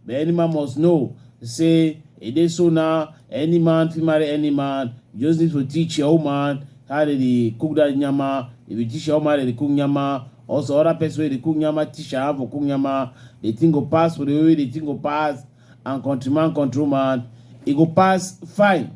The any man must know. Say, it is so now, any man, fit marry any man. You just need to teach your own man how they cook that nyama. If you teach your own man, they cook nyama. Also, other person wey dey cook nyama, teach am for cook nyama. The thing go pass for the way the thing go pass. And countryman, countryman, e go pass fine.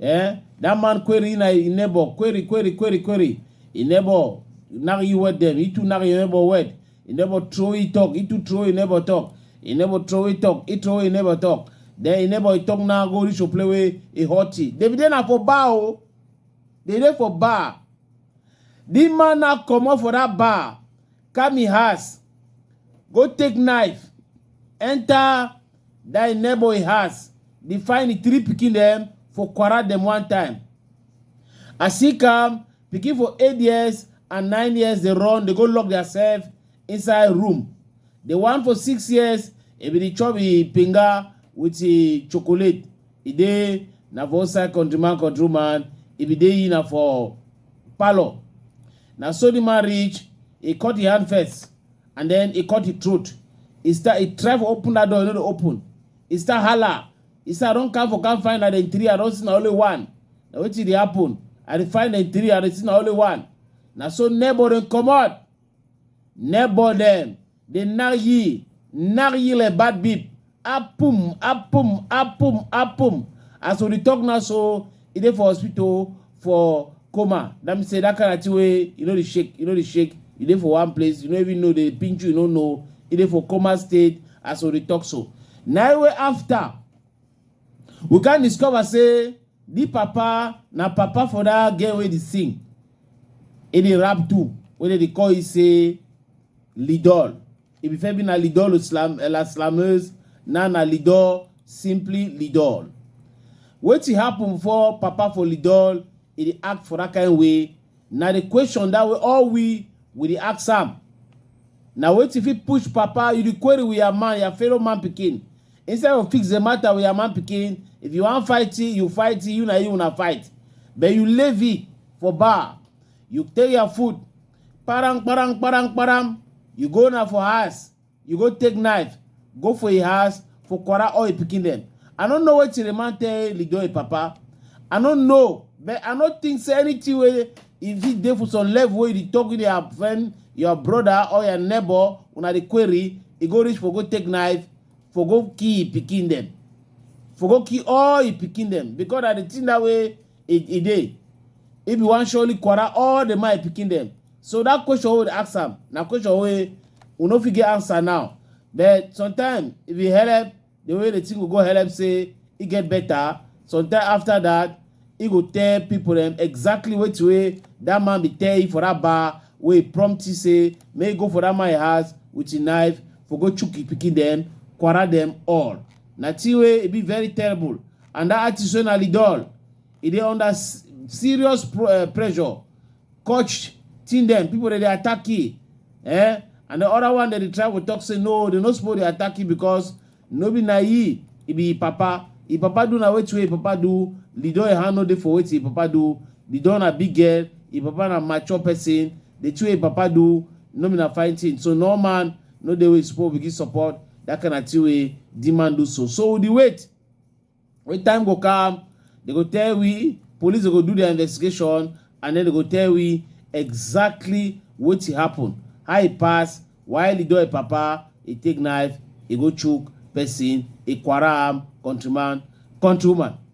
eh that man query na in neighbor query query query query in neighbor nag you wet them itu nag your neighbor wet in neighbor throw it talk itu throw in neighbor talk in neighbor throw it talk it throw in neighbor talk then in neighbor talk now go reach to play with a hot tea david dey na for bar o dey dey for bar the man now comot for that bar come him house go take knife enter Die neighbor in house, dey find the three pikin dem for quarrel dem one time. As he come, pikin for eight years and nine years dey run, dey go lock theirself inside room. The one for six years, e bin dey chop e pinga with e chocolate. E dey na for outside country man, country woman, e bin dey e na for parlour. Na so the man reach, e cut e hand first, and then e cut the throat e start e try for open that door e no dey open e start hala e start run come for come find na dem three i don see na only one na wetin dey happen i dey find dem three i dey see na only one na so neighbor dem comot neighbor dem dey knack ye knack ye like bad beep Apum, apum, apum, apum. As we dey talk now so, e dey for hospital for coma. That means say that kind of thing wey you no dey shake, you no dey shake, you dey for one place, you no even know dey pinch you, you no know. E dey for coma state as we dey talk so. Na im wey after we come discover say the papa na papa for that girl wey dey sing. E dey rap too, wey dem dey call you say Lidol. If you feel be na lidol slam eh, la slameuse, na na lidol, simply lidol. Wetin happen for Papa for lidol, e dey act for that kind way. Na the question that way all we we dey ask am. Na wetin fit push Papa you dey query with your man, your fellow man pikin. Instead of fix the matter with your man pikin, if you wan fight it, you fight it, you na you una fight. But you leave it for bar, you take your food, kparam kparam kparam kparam you go na for house you go take knife go for im house for kwara all im pikin dem i no know wetin the man tell lido im papa i no know but i no think say anything wey e fit dey for some level wey you dey talk with your friend your brother or your neighbor una dey query e go reach for go take knife for go kill im pikin dem for go kill all im pikin dem because na the thing that way e e dey if you wan surely quarrel all the my pikin dem so that question wey we ask am na question wey we no fit get answer now but sometimes if you help the way the thing go go help say e get better sometimes after that e go tell people dem exactly wetin wey that man be tell you for that bar wey prompt you say make you go for that man house with your knife for go chook your pikin dem quarrel dem all na thing wey e be very terrible and that artist wey na lidol e dey under s- serious pro, uh, pressure coach team dem people dey dey attack e eh and the other one dey dey try to talk say no they no suppose dey attack e because no be na e e be e papa e papa do na wetin wey e papa do lidol e hand no dey for wetin e papa do lidol na big girl e papa na mature person the two wey e papa do no be na fine thing so no man no dey wey suppose begin support that kind of thing wey the man do so so we dey wait When time go come, they go tell we, police go do their investigation, and then they go tell we exactly what happened, how he pass, why he do a papa, he take knife, he go choke person, he quaram, countryman, countrywoman.